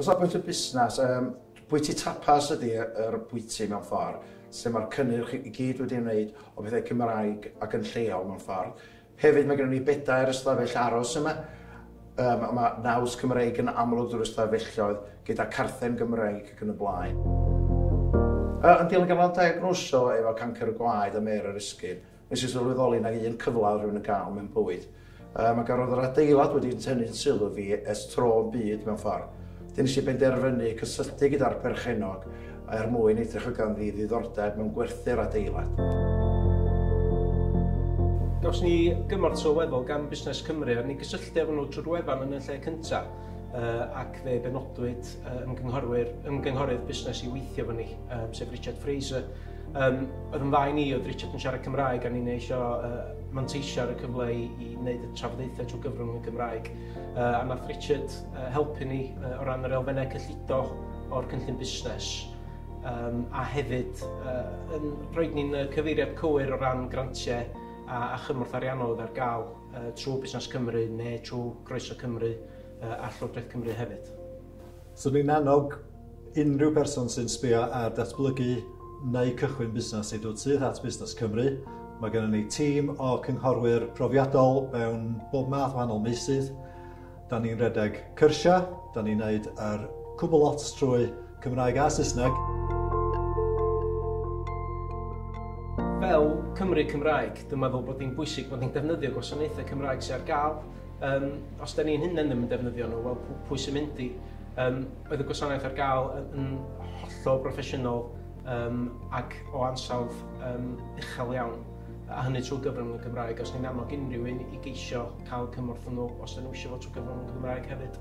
O safbwynt y busnes, yym, bwyty tapas ydy y- yr bwyty mewn ffor, lle ma'r cynnyrch i gyd wedi ymwneud o bethau Cymraeg ac yn lleol mewn ffor. Hefyd ma' gynnon ni bedair ystafell aros yma, yym a ma' naws Cymreig yn amlwg drw'r ystafelloedd gyda carthen Gymreig ac yn y blaen. Yy yn dilyn ganddo ddiagnoso efo cancr y gwaed a mêr yr esgid, Nes i sylweddoli na un cyfle oedd rhywun yn cael mewn bywyd. Um, ac roedd yr adeilad wedi tynnu'n sylw fi es tro yn byd mewn ffordd. Dyn nes i benderfynu cysylltu gyda'r perchenog er mwyn edrych o ganddi ddiddordeb mewn gwerthu'r adeilad. Gawson ni gymorth sylweddol gan Busnes Cymru a ni gysylltu efo nhw trwy'r wefan yn y lle cyntaf uh, ac fe benodwyd uh, ymgynghorwyr, ymgynghorydd busnes i weithio fo ni, um, sef Richard Fraser, Um, oedd yn dda i ni, oedd Richard yn siarad Cymraeg, a ni'n eisio uh, manteisio ar y cyfle i, i wneud y trafodaethau trwy gyfrwng y Gymraeg. Uh, a nath Richard uh, helpu ni uh, o ran yr elfennau cyllido o'r cynllun busnes, um, a hefyd uh, yn rhoi ni'n cyfeiriad cywir o ran grantiau a, a chymorth ariannol oedd ar gael uh, trwy Busnes Cymru neu trwy Groeso Cymru uh, a Llywodraeth Cymru hefyd. Swn i'n annog unrhyw berson sy'n sbio ar datblygu neu cychwyn busnes i ddod syth at Busnes Cymru. Mae gennym ni tîm o cynghorwyr profiadol mewn bob math wahanol meysydd. Da ni'n redeg cyrsiau, da ni'n neud yr cwbl lot trwy Cymraeg a Saesneg. Fel Cymry Cymraeg, dwi'n meddwl bod hi'n bwysig bod ni'n defnyddio gwasanaethau Cymraeg sydd ar gael, Yym, os da ni'n hunain ddim yn defnyddio nhw, wel, pw- pwy sy'n mynd i? Yym, oedd y gwasanaeth ar gael yn, yn hollol broffesiynol um, ac o ansawdd um, uchel iawn, a hynny trwy gyfrwng y Gymraeg. Os ni'n annog unrhyw un i geisio cael cymorth yn nhw, os da nhw eisiau fod trwy gyfrwng y Gymraeg hefyd.